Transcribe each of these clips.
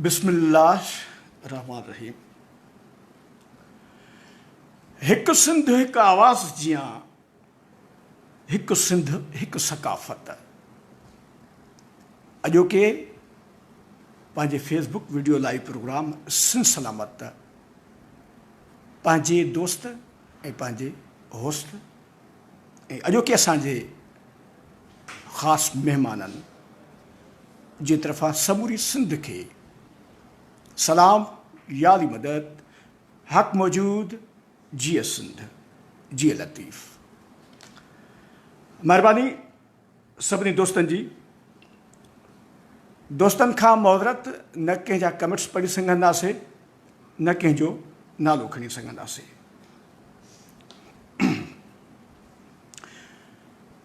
بسم الله الرحمٰن الرحيم هڪ سنڌ هڪ آواز جيان هڪ سنڌ هڪ ثقافت اڄوڪي پنهنجي Facebook video live program Sindh Salamat پنهنجي دوست ۽ پنهنجي هوست ۽ اڄوڪي اسان جي خاص مهمانن جي طرفان سموري سنڌ کي سلام يا علي مدد حق موجود جيئي سنڌ جيئي لطيف مهرباني. سڀني دوستن جي دوستن کان معذرت نه ڪنهن جا ڪمينٽس پڙهي سگهنداسين نه ڪنهن جو نالو کڻي سگهنداسين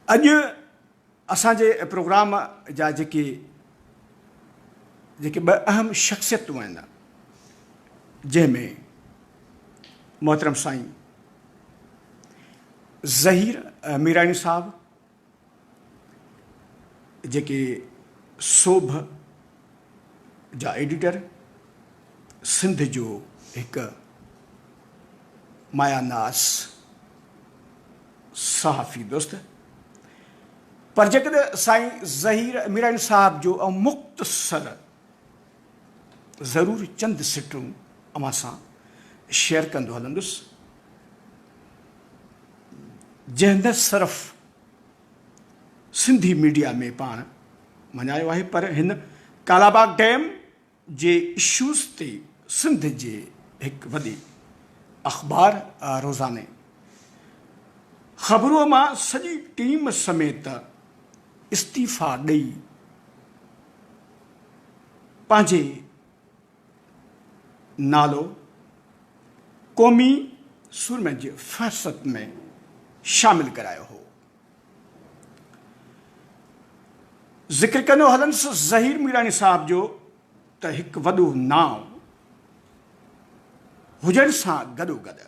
اڄ اسان جي پروگرام جا جيڪي جيڪي ٻه اهم شخصيتون آهن جنهن ۾ محترم سائين ظهير ميراڻي صاحب جيڪي سوڀ جا ايڊيٽر سنڌ جو هڪ مايا ناز صحافي دوست پر جيڪڏهن سائين ظهير ميراڻي صاحب جو مختصر ضرور چند سٽون اوهان سان شيئر ڪندو هلندس جنهن نه صرف سنڌي ميڊيا ۾ پاڻ مڃايو آهي پر هن ڪالاباغ ڊيم جي اشوز تي سنڌ جي هڪ وڏي اخبار روزاني خبرو مان سڄي ٽيم سميت استعيفا ڏئي پنهنجي نالو قومي سورمن جي فهرست ۾ شامل ڪرايو هو. ذڪر ڪندو هلنس ظهير ميراڻي صاحب جو ته هڪ وڏو نانء هجڻ سان گڏوگڏ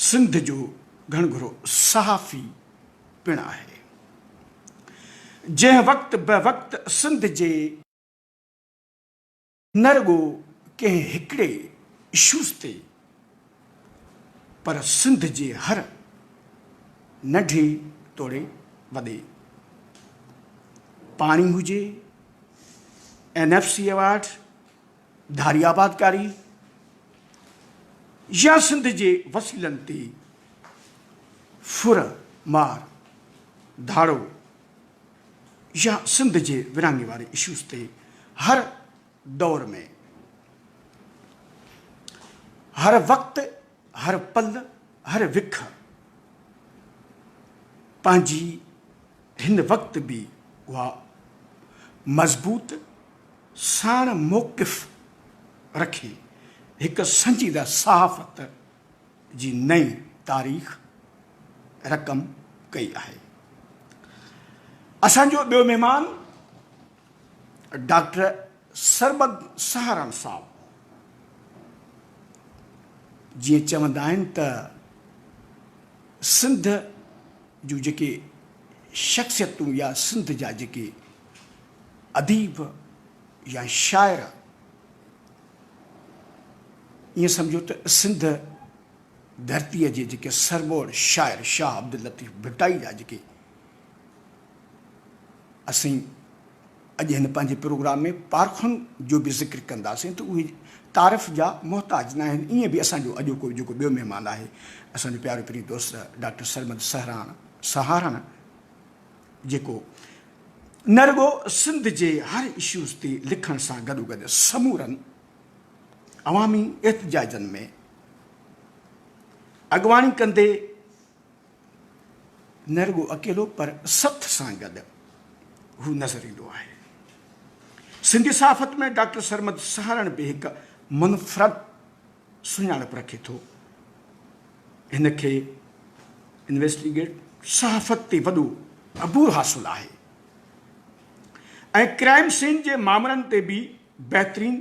سنڌ جو گهڻگهرو صحافي پڻ آهي، جنهن وقت به وقت سنڌ جي. نه رڳو ڪنهن هڪڙي اشوز تي پر سنڌ جي هر ننڍي توڙي وڏي پاڻي هجي، اين ايف سي ايوارڊ، ڌاري آبادڪاري يا سنڌ جي وسيلن تي ڦر مار ڌاڙو يا سنڌ جي ورهاڱي واري اشوز تي هر دور ۾ هر وقت هر پل هر وک پنهنجي هن وقت به اها مضبوط ساڻ موقف رکي هڪ سنجيده صحافت جي نئين تاريخ رقم ڪئي آهي. اسان جو ٻيو مهمان ڊاڪٽر سرمد سهارڻ صاحب جيئن چوندا آهن ته سنڌ جون جيڪي شخصيتون يا سنڌ جا جيڪي اديب يا شاعر ائين سمجهو ته سنڌ ڌرتيء جي جيڪي سرموڙ شاعر شاهه عبداللطيف ڀٽائي جا جيڪي اسين اڄ هن پنهنجي پروگرام ۾ پارکن جو به ذڪر ڪنداسين ته اهي تعارف جا محتاج ناهن ائين به اسان جو اڄوڪو جيڪو ٻيو مهمان آهي اسان جو پيارو پرين دوست ڊاڪٽر سرمد سهراڻ سهارڻ جيڪو نه رڳو سنڌ جي هر اشوز تي لکڻ سان گڏوگڏ سمورن عوامي احتجاجن ۾ اڳواڻي ڪندي نه رڳو اڪيلو پر سٿ سان گڏ هو نظر ايندو آهي سنڌي صحافت ۾ ڊاڪٽر سرمد سهارڻ به هڪ منفرد سڃاڻپ رکي ٿو. هن کي انويسٽيگيٽ صحافت تي وڏو عبور حاصل آهي ۽ ڪرائيم سين جي مامرن تي به بهترين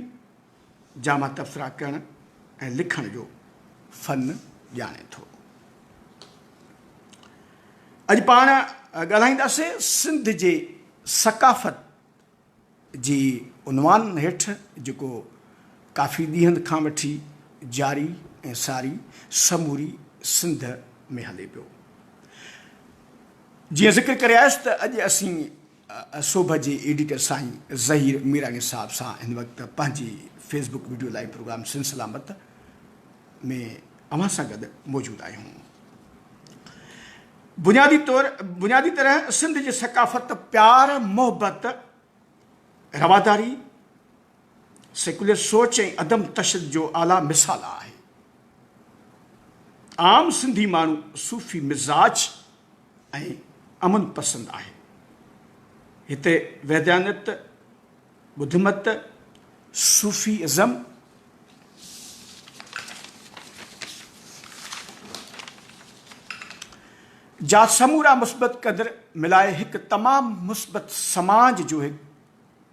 جامع تبصرا ڪرڻ ۽ لکڻ جو فن ڄاڻي ٿو. اڄ پاڻ ڳالهائينداسين سنڌ جي ثقافت، جي عنوان هيٺ جيڪو ڪافي ڏينهن کان وٺي جاري ۽ ساري سموري سنڌ ۾ هلي پيو. جيئن ذڪر ڪري آيس ته اڄ اسين صوڀ جي ايڊيٽر سائين ظهير ميراڻي صاحب سان هن وقت پنهنجي Facebook video live program Sindh Salamat ۾ اوهان سان گڏ موجود آهيون. بنيادي طور بنيادي طرح سنڌ جي ثقافت پيار محبت رواداري سيڪولر سوچ ۽ عدم تشدد جو اعليٰ مثال آهي عام سنڌي ماڻهو صوفي مزاج ۽ امن پسند آهي هتي وحدانيت ٻڌ مت، صوفي ازم، جا سمورا مثبت قدر ملائي هڪ تمام مثبت سماج جو هڪ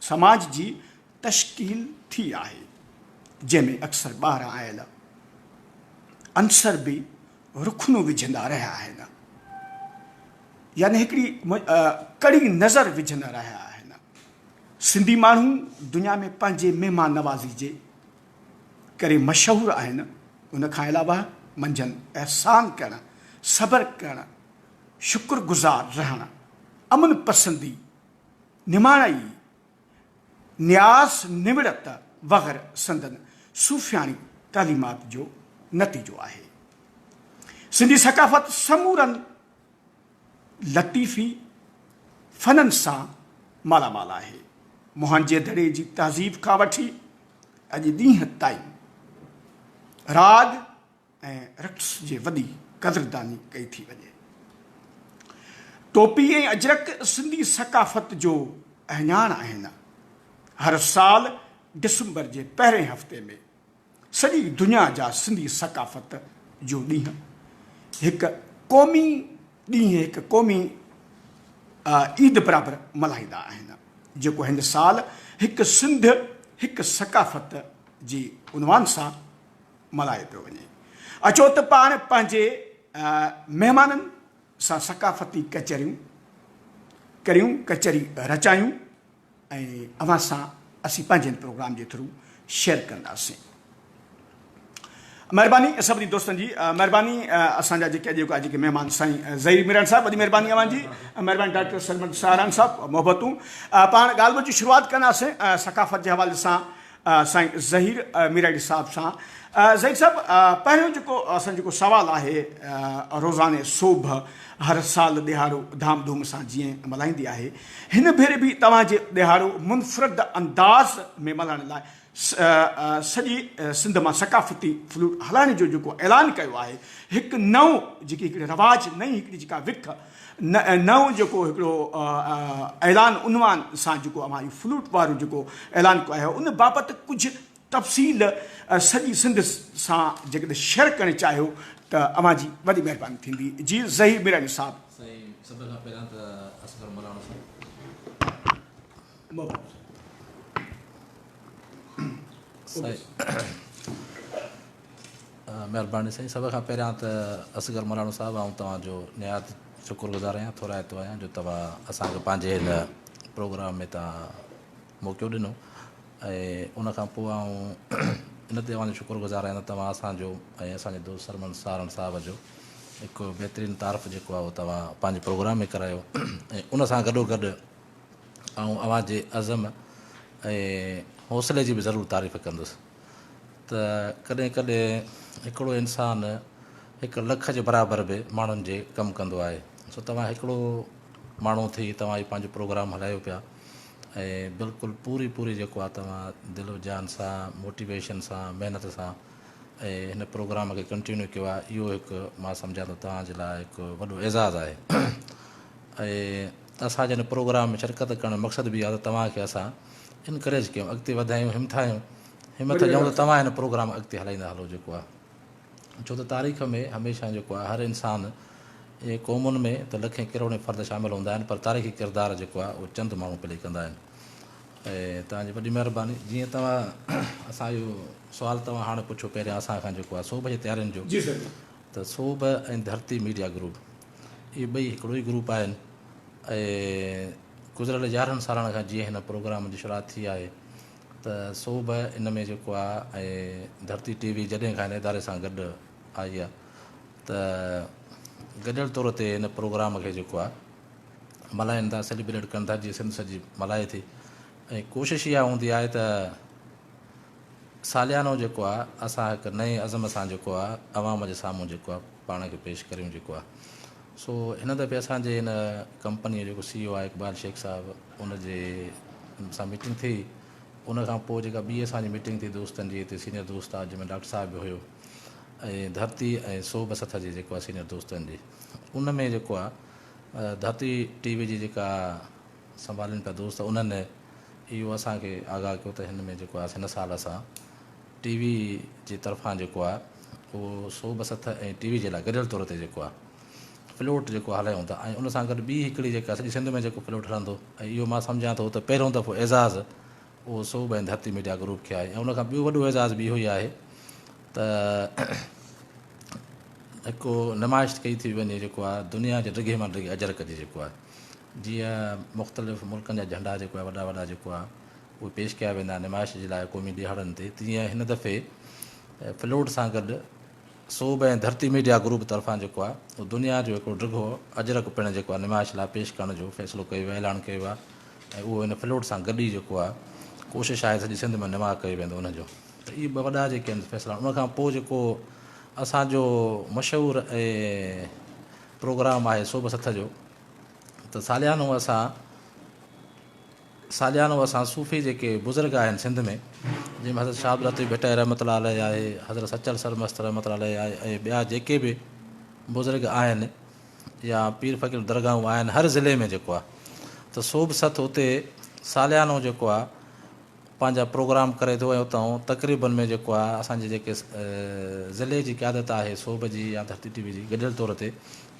سماج جي تشڪيل ٿي آهي جنهن ۾ اڪثر ٻاهران آيل عنصر به رخنو وجهندا رهيا آهن يعني هڪڙي ڪڙي نظر وجهندا رهيا آهن. سنڌي ماڻهو دنيا ۾ پنهنجي مهمان نوازي جي ڪري مشهور آهن، ان کان علاوه منجهن احسان ڪرڻ، صبر ڪرڻ، شڪر گذار رهڻ، امن پسندي، نماڻائي، نياز نوڙت وغيره سندن صوفياڻي تعليمات جو نتيجو آهي. سنڌي ثقافت سمورن. لطيفي فنن سان مالا مال آهي. موهنجي دڙي جي تهذيب کان وٺي اڄ ڏينهن تائين راڳ ۽ رقص جي وڏي قدرداني ڪئي ٿي وڃي. ٽوپي ۽ اجرڪ سنڌي ثقافت جو اهڃاڻ آهن. هر سال ڊسمبر جي پهرين هفتي ۾. سڄي دنيا جا سنڌي ثقافت جو ڏينهن هڪ قومي ڏينهن هڪ قومي عيد برابر ملهائيندا آهن جيڪو هن سال هڪ سنڌ هڪ ثقافت جي عنوان سان ملهايو پيو وڃي اچو ته پاڻ پنهنجي مهمانن سان ثقافتي ڪچهريون ڪريون ڪچهري رچايون ۽ اوهان سان اسين پنهنجن پروگرام جي ٿرو شيئر ڪنداسين مهرباني سڀني دوستن جي مهرباني اسان جا جيڪي اڄوڪا جيڪي مهمان سائين ظهير ميران صاحب وڏي مهرباني اوهان جي مهرباني ڊاڪٽر سرمد ساران صاحب محبتون پاڻ ڳالهه ٻولهه جي شروعات ڪنداسين ثقافت جي حوالي سان سائين ظهير ميراڻي صاحب سان ظهير صاحب پهريون جيڪو اسان جيڪو سوال آهي روزاني سوڀ هر سال ڏهاڙو ڌام ڌوم سان جيئي ملهائيندي آهي هن ڀيري به توهان جي ڏهاڙو منفرد انداز ۾ ملهائڻ لاء سڄي سنڌ مان ثقافتي فلوٽ هلائڻ جو جيڪو اعلان ڪيو آهي هڪ نئون جيڪي هڪڙي رواج نئين هڪڙي جيڪا وک نئون جيڪو هڪڙو اعلان عنوان سان جيڪو اوهان اهو فلوٽ وارو جيڪو اعلان ڪيو آهي ان بابت ڪجهه تفصيل سڄي سنڌ سان جيڪڏهن شيئر ڪرڻ چاهيو ته اوهان جي وڏي مهرباني ٿيندي جي ظهير ميراڻي صاحب. سائين سڀ کان پهريان ته اصغر ملاڻو صاحب مبارڪ هجي. مھرباني سائين سڀ کان پهريان ته اصغر مھراڻو صاحب آئون توهان جو نھايت شڪر گذار آهيان ٿورائتو آهيان جو توهان اسان کي پنهنجي هن پروگرام ۾ توهان موقعو ڏنو ۽ ان کان پوء آئون ان تي اوهان جو شڪر گذار آهيان ته توهان اسان جو ۽ اسان جي دوست سرمن سارڻ صاحب جو هڪ بهترين تعارف جيڪو آهي اهو توهان پنهنجي پروگرام ۾ ڪرايو ۽ ان سان گڏو گڏ آئون اوهان جي عزم ۽ حوصلي جي به ضرور تعريف ڪندس ته ڪڏهن ڪڏهن هڪڙو انسان هڪ لک جي برابر به ماڻهن جي ڪم ڪندو آهي سو توهان هڪڙو ماڻهو ٿي توهان هي پنهنجو پروگرام هلايو پيا ۽ بلڪل پوري پوري جيڪو آهي توهان دل و جان سان موٽيويشن سان محنت سان ۽ هن پروگرام کي ڪنٽينيو ڪيو آهي اهو هڪ مان سمجهان ٿو توهان جي لاء هڪ وڏو اعزاز آهي ۽ اسان جي هن پروگرام ۾ شرڪت ڪرڻ جو مقصد به اهو آهي ته توهان کي اسان انڪريج ڪيون اڳتي وڌايون همٿايون همٿ ڏيون ته توهان هن پروگرام اڳتي هلائيندا هلو جيڪو آ ڇو ته تاريخ ۾ هميشه جيڪو آ هر انسان جي قومن ۾ ته لکين ڪروڙين فرد شامل هوندا آهن پر تاريخي ڪردار جيڪو آ اهو چند ماڻهو پلي ڪندا آهن ۽ توهان جي وڏي مهرباني جيئن توهان اسان جو سوال توهان هاڻ پڇو پهريان اسان کان جيڪو آ صوبه جي تيارين جو جي سر ته صوبه ۽ ڌرتي ميڊيا گروپ اهي ٻئي هڪڙو ئي گروپ آهن ۽ گذريل يارهن سالن کان جيئن هن پروگرام جي شروعات ٿي آهي ته سو به ان ۾ جيڪو آهي ۽ ڌرتي ٽي وي جڏهن کان هن اداري سان گڏ آئي آهي ته گڏيل طور تي هن پروگرام کي جيڪو آهي ملهائن ٿا سيليبريٽ ڪن ٿا جيئن سنڌ سڄي ملهائي ٿي ۽ ڪوشش اها هوندي آهي ته ساليانو جيڪو آ اسان هڪ نئين عزم سان جيڪو آ عوام جي سامهون جيڪو آ پاڻ کي پيش ڪريون جيڪو آ سو هن دفعي اسان جي هن ڪمپني جو جيڪو سي او آ اقبال شيخ صاحب ان جي سان ميٽنگ ٿي ان کان پوء جيڪا ٻي اسان جي ميٽنگ ٿي دوستن جي هتي سينيئر دوست آ جنهن ۾ ڊاڪٽر صاحب به هيو ۽ ڌرتي ۽ سوڀ سٿ جي جيڪو آ سينيئر دوستن جي ان ۾ جيڪو آ ڌرتي ٽي وي جي جيڪا سنڀالين پيا دوست انهن اهو اسان کي آگاهه ڪيو ته هن ۾ جيڪو آهي هن سال اسان ٽي وي جي طرفان جيڪو آهي اهو سو ٻه سٿ ۽ ٽي وي جي لاء گڏيل طور تي جيڪو آهي پلوٽ جيڪو هلايون ٿا ۽ ان سان گڏ ٻي هڪڙي جيڪا سڄي سنڌ ۾ جيڪو پلوٽ هلندو ۽ اهو مان سمجهان ٿو ته پهريون دفعو اعزاز اهو سو ٻه ڌرتي ميڊيا گروپ کي آهي ۽ ان کان ٻيو وڏو اعزاز به اهو ئي آهي ته هڪ نمائش ڪئي ٿي وڃي جيڪو آهي دنيا جي ڊگهي مان ڊگهي اجرڪ جي جيڪو آهي جيئن مختلف ملڪن جا جهنڊا جيڪو آهي وڏا وڏا جيڪو آهي اهي پيش ڪيا ويندا آهن نمائش جي لاء قومي ڏهاڙن تي تيئن هن دفعي فلوٽ سان گڏ صوب ۽ ڌرتي ميڊيا گروپ طرفان جيڪو آهي اهو دنيا جو هڪڙو ڊگهو اجرڪ پڻ جيڪو آهي نمائش لاء پيش ڪرڻ جو فيصلو ڪيو ويو آهي اعلان ڪيو ويو آهي ۽ اهو هن فلوٽ سان گڏ ئي جيڪو آهي ڪوشش آهي سڄي سنڌ ۾ نماء ڪيو ويندو ان جو ته اهي ٻه وڏا جيڪي آهن فيصلا ان کان پوء جيڪو اسان جو مشهور ۽ پروگرام آهي صوب سٿ جو ته ساليانو اسان ساليانو اسان صوفي جيڪي بزرگ آهن سنڌ ۾ جن ۾ حضرت شاهه عبداللطيف ڀٽائي رحمت الله عليه آهي حضرت سچل سرمست رحمت الله عليه آهي ۽ ٻيا جيڪي به بزرگ آهن يا پير فقير درگاهون آهن هر ضلعي ۾ جيڪو آهي ته صوب سٿ اتي ساليانو جيڪو آهي پنهنجا پروگرام ڪري ٿو ۽ اتان تقريبن ۾ جيڪو آهي اسانجي جيڪي ضلعي جي قيادت آهي صوب جي يا ڌرتي ٽي وي جي گڏيل طور تي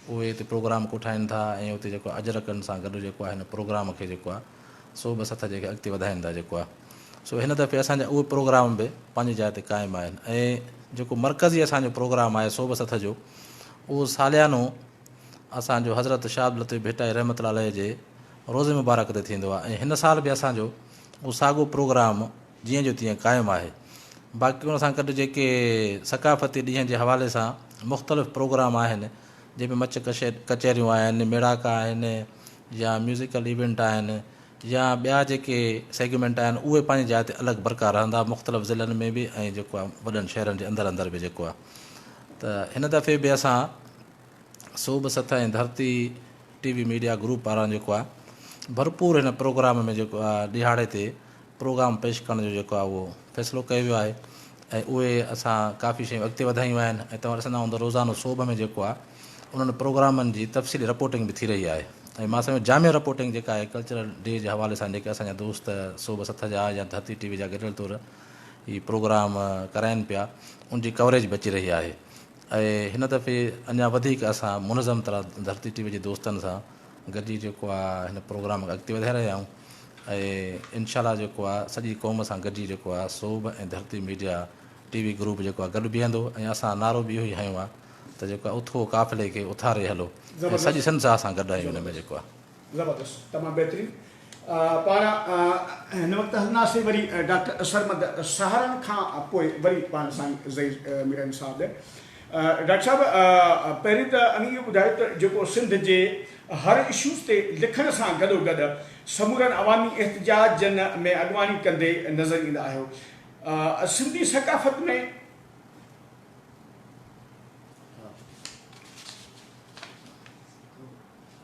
اهي اتي پروگرام ڪوٺائين ٿا ۽ اتي جيڪو آهي اجرڪن سان گڏ جيڪو آهي هن پروگرام کي جيڪو آهي سو به سٿ جيڪي اڳتي وڌائين ٿا جيڪو آهي سو هن دفعي اسان جا اهي پروگرام به پنهنجي جاء تي قائم آهن ۽ جيڪو مرڪزي اسان جو پروگرام آهي سو به سٿ جو اهو ساليانو اسان جو حضرت شاهه عبداللطيف ڀٽائي رحمت الله عليه جي روزي مبارڪ تي ٿيندو آهي ۽ هن سال به اسان جو اهو ساڳو پروگرام جيئن جو تيئن قائم آهي باقي ان سان گڏ جيڪي ثقافتي ڏينهن جي حوالي سان مختلف پروگرام آهن جنهن ۾ مچ ڪچهريون آهن ميڙاڪا آهن يا ميوزيڪل ايونٽ آهن يا ٻيا جيڪي سيگمينٽ آهن اهي پنهنجي جاء تي الڳ برقرار رهندا مختلف ضلعن ۾ به ۽ جيڪو آهي وڏن شهرن جي اندر اندر به جيڪو آهي ته هن دفعي به اسان صوبه سطح ۽ Dharti T V media group پاران جيڪو آ ڀرپور هن پروگرام ۾ جيڪو آ ڏهاڙي تي پروگرام پيش ڪرڻ جو جيڪو آ اهو فيصلو ڪيو ويو آهي ۽ اهي اسان ڪافي شيون اڳتي وڌايون آهن ۽ توهان ڏسندا هوندو روزانو صوبه ۾ جيڪو آ انهن پروگرامن جي تفصيلي رپورٽنگ به ٿي رهي آهي ۽ مان سمجهو جامع رپورٽنگ جيڪا آهي ڪلچرل ڊي جي حوالي سان جيڪي اسان جا دوست صوبه سطح جا يا ڌرتي ٽي وي جا گڏيل طور هي پروگرام ڪرائين پيا ان جي ڪوريج به اچي رهي آهي ۽ هن دفعي اڃا وڌيڪ اسان منظم طرح ڌرتي ٽي وي جي دوستن سان گڏجي جيڪو آ هن پروگرام کي اڳتي وڌائي رهيا آهيون ۽ ان شاء الله جيڪو آ سڄي قوم سان گڏجي جيڪو آ سوڀ ۽ Dharti media T V group جيڪو آ گڏ بيهندو ۽ اسان نعرو به اهو ئي هنيو آ ته جيڪو آ اٿو قافلي کي اٿاري هلو ۽ سڄي سنڌ سان اسان گڏ آهيون ان ۾ جيڪو آ زبردست تمام بهترين پاڻ هن وقت هلنداسين وري ڊاڪٽر سرمد سهارن کان پوء وري پاڻ سائين زئيد ميرن صاحب ڏي ڊاڪٽر صاحب پهرين ته اوهين اهو ٻڌايو ته جيڪو سنڌ جي هر اشوز تي لکڻ سان گڏو گڏ سمورن عوامي احتجاجن ۾ اڳواڻي ڪندي نظر ايندا آهيو سنڌي ثقافت ۾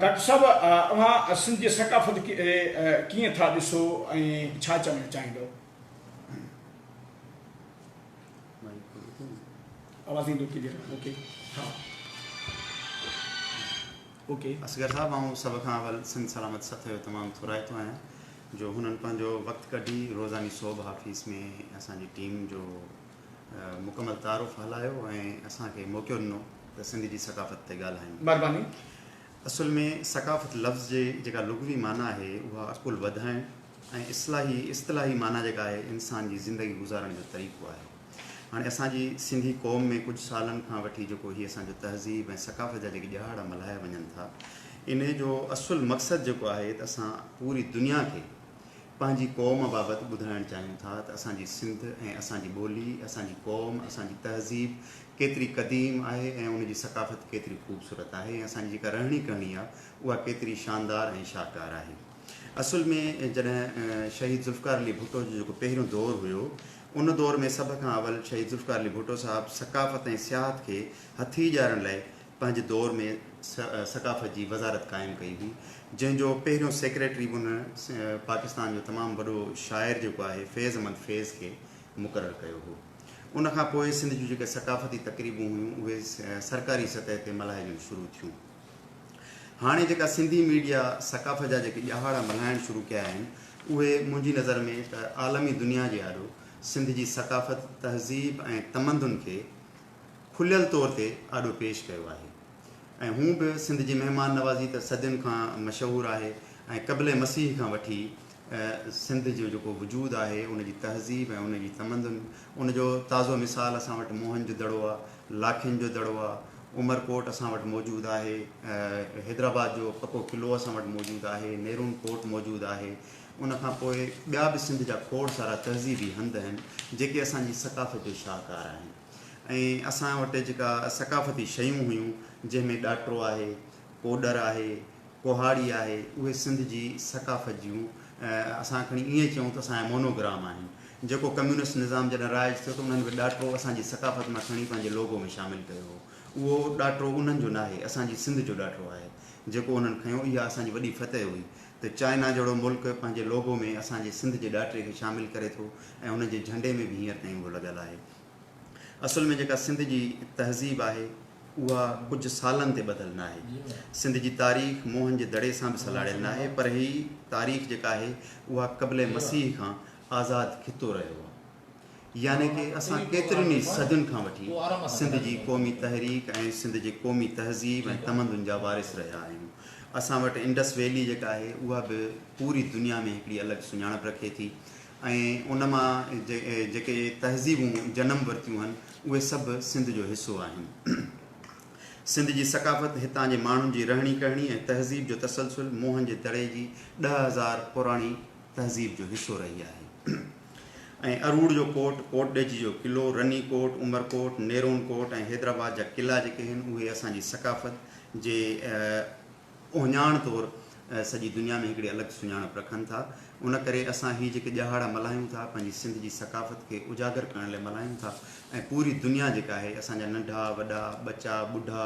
ڊاڪٽر صاحب اوهان سنڌ جي ثقافت کي ڪيئن ٿا ڏسو ۽ ڇا چوڻ چاهيندو. اصغر صاحب آئون سڀ کان اول سنڌ سلامت سٿ جو تمام ٿورائتو آهيان جو هنن پنهنجو وقت ڪڍي روزاني صوبه آفيس ۾ اسان جي ٽيم جو مڪمل تعارف هلايو ۽ اسان کي موقعو ڏنو ته سنڌ جي ثقافت تي ڳالهايون اصل ۾ ثقافت لفظ جي جيڪا لغوي معنيٰ آهي اها عقل وڌائڻ ۽ اصلاحي اصطلاحي معنيٰ جيڪا آهي انسان جي زندگي گذارڻ جو طريقو آهي. هاڻي اسان جي سنڌي قوم ۾ ڪجهه سالن کان وٺي جيڪو هي اسان جو تهذيب ۽ ثقافت جا جيڪي ڏهاڙا ملهايا وڃن ٿا انهي جو اصل مقصد جيڪو آهي ته اسان پوري دنيا کي پنهنجي قوم بابت ٻڌائڻ چاهيون ٿا ته اسان جي سنڌ ۽ اسان جي ٻولي، اسان جي قوم، اسان جي تهذيب ڪيتري قديم آهي ۽ ان جي ثقافت ڪيتري خوبصورت آهي ۽ اسان جي جيڪا رهڻي ڪهڻي آهي اها ڪيتري شاندار ۽ شاهڪار آهي. اصل ۾ جڏهن شهيد ذوالفقار علي ڀٽو جو جيڪو پهريون دور هيو ان دور ۾ سڀ کان اول شهيد ذوالفقار علي ڀٽو صاحب ثقافت ۽ سياحت کي هٿي ڏيارڻ لاء پنهنجي دور ۾ ثقافت جي وزارت قائم ڪئي هئي جنهن جو پهريون سيڪريٽري به هن پاڪستان جو تمام وڏو شاعر جيڪو آهي فيض احمد فيض کي مقرر ڪيو هو ان کان پوء سنڌ جون جيڪي ثقافتي تقريبون هيون اهي سرڪاري سطح تي ملهائجڻ شروع ٿيون هاڻي جيڪا سنڌي ميڊيا ثقافت جا جيڪي ڄهاڙا ملهائڻ شروع ڪيا آهن اهي منهنجي نظر ۾ ته عالمي دنيا جي آڏو سنڌ جي ثقافت تهذيب ۽ تمدن کي کليل طور تي آڏو پيش ڪيو آهي ۽ هونء به سنڌ جي مهمان نوازي ته صدين کان مشهور آهي ۽ قبل مسيح کان وٺي سنڌ جو جيڪو وجود آهي ان جي تهذيب ۽ ان جي تمدن ان جو تازو مثال اسان وٽ موهن جو دڙو آهي لاکين جو دڙو آهي عمر ڪوٽ اسان وٽ موجود آهي حيدرآباد جو پڪو قلعو اسان وٽ موجود آهي نيرون ڪوٽ موجود آهي ان کان پوء ٻيا به سنڌ جا کوڙ سارا تهذيبي هنڌ آهن جيڪي اسان جي ثقافتي شاهڪار آهن ۽ اسان وٽ جيڪا ثقافتي شيون هيون جنهن ۾ ڏاٽرو آهي، ڪوڏر آهي، ڪهاڙي آهي اهي سنڌ جي ثقافت جون اسان کڻي ائين چئون ته اسان جا مونو گرام آهن جيڪو ڪميونسٽ نظام جڏهن رائج ٿيو ته انهن به ڏاٽرو اسان جي ثقافت مان کڻي پنهنجي لوگو ۾ شامل ڪيو هو اهو ڏاٽرو انهن جو ناهي اسان جي سنڌ جو ڏاٽرو آهي جيڪو انهن کنيو اها اسان جي وڏي فتح هئي ته چائنا جهڙو ملڪ پنهنجي لوگو ۾ اسان جي سنڌ جي ڏاٽري کي شامل ڪري ٿو ۽ ان جي جهنڊي ۾ به هينئر تائين اهو لڳل آهي. اصل ۾ جيڪا سنڌ جي تهذيب آهي اها ڪجهه سالن تي ٻڌل ناهي. سنڌ جي تاريخ موهن جي دڙي سان به سلهاڙيل ناهي پر هي تاريخ جيڪا آهي اها قبل مسيح کان آزاد خطو رهيو آهي. يعني ڪي اسان ڪيترين ئي صدين کان وٺي سنڌ جي قومي تحريڪ ۽ سنڌ جي قومي تهذيب ۽ تمدن جا وارث رهيا آهيون. اسان وٽ انڊس ويلي جيڪا آهي اها به پوري دنيا ۾ هڪڙي الڳ سڃاڻپ رکي ٿي. ۽ ان مان جيڪي تهذيبون جنم ورتيون هن اهي سڀ سنڌ جو حصو آهن. سنڌ جي ثقافت، هتان جي ماڻهن جي رهڻي ڪهڻي ۽ تهذيب جو تسلسل موهن جي دڙي جي ڏهه هزار پراڻي تهذيب جو حصو رهي آهي ۽ اروڙ جو ڪوٽ، ڪوٽ ڏيجي جو قلعو، رني ڪوٽ، عمر ڪوٽ، نيرون ڪوٽ ۽ حيدرآباد جا قلعا جيڪي هن اهي اسان جي ثقافت جي اهڃاڻ طور سڄي دنيا ۾ هڪڙي الڳ سڃاڻپ رکن ٿا. ان ڪري اسان هي جيڪي ڏهاڙا ملهايون ٿا، پنهنجي سنڌ جي ثقافت کي اجاگر ڪرڻ لاء ملهايون ٿا ۽ پوري دنيا جيڪا آهي، اسان جا ننڍا، وڏا، ٻچا، ٻڍا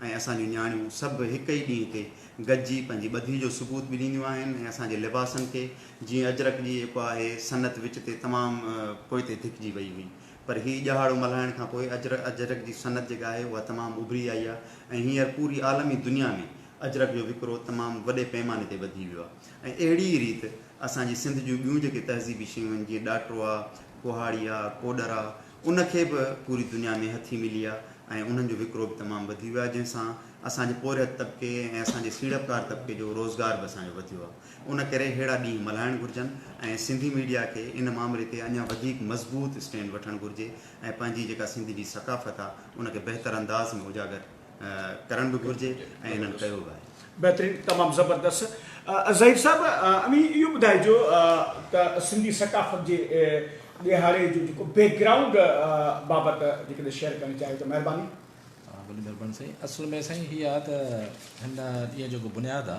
۽ اسان جون نياڻيون سڀ هڪ ئي ڏينهن تي گڏجي پنهنجي ٻڌي جو ثبوت به ڏينديون آهن ۽ اسان جي لباسن کي جيئن اجرڪ جي جيڪو آهي صنعت وچ تي تمام پوئتي ڌڪجي وئي هئي، پر هي ڄهاڙو ملهائڻ کان پوء اجرڪ اجرڪ جي صنعت جيڪا آهي اها تمام اڀري آئي آهي ۽ هينئر پوري عالمي دنيا ۾ اجرڪ جو وڪرو تمام وڏي پيماني تي وڌي ويو آهي ۽ اهڙي ئي ريت اسان جي سنڌ جون ٻيون جيڪي تهذيبي شيون آهن جيئن ڏاٽرو آهي، ڪهاڙي آهي، ڪوڏر آهي ان کي به پوري دنيا ۾ هٿي ملي آهي ۽ انهن جو وڪرو به تمام وڌي ويو آهي جنهن سان اسان جي پورهيت طبقي ۽ اسان جي سيڙپڪار طبقي جو روزگار به اسان جو وڌيو آهي. ان ڪري اهڙا ڏينهن ملهائڻ گهرجن ۽ سنڌي ميڊيا کي ان معاملي تي اڃا وڌيڪ مضبوط اسٽينڊ وٺڻ گهرجي ۽ پنهنجي جيڪا سنڌ جي ثقافت آ ان کي بهتر انداز ۾ اجاگر ڪرڻ به گهرجي ۽ انهن ڪيو به آهي. بهترين تمام زبردست ظهير صاحب اوهين اهو ٻڌائجو ته سنڌي ثقافت جي ڏيهاڙي جو جيڪو بيڪ گرائونڊ بابت جيڪڏهن شيئر ڪرڻ چاهيو ته مهرباني. ها بلي مھرباني سائين اصل ۾ سائين ھي آ ته ھن ڏينھن جو جيڪو بنياد آ.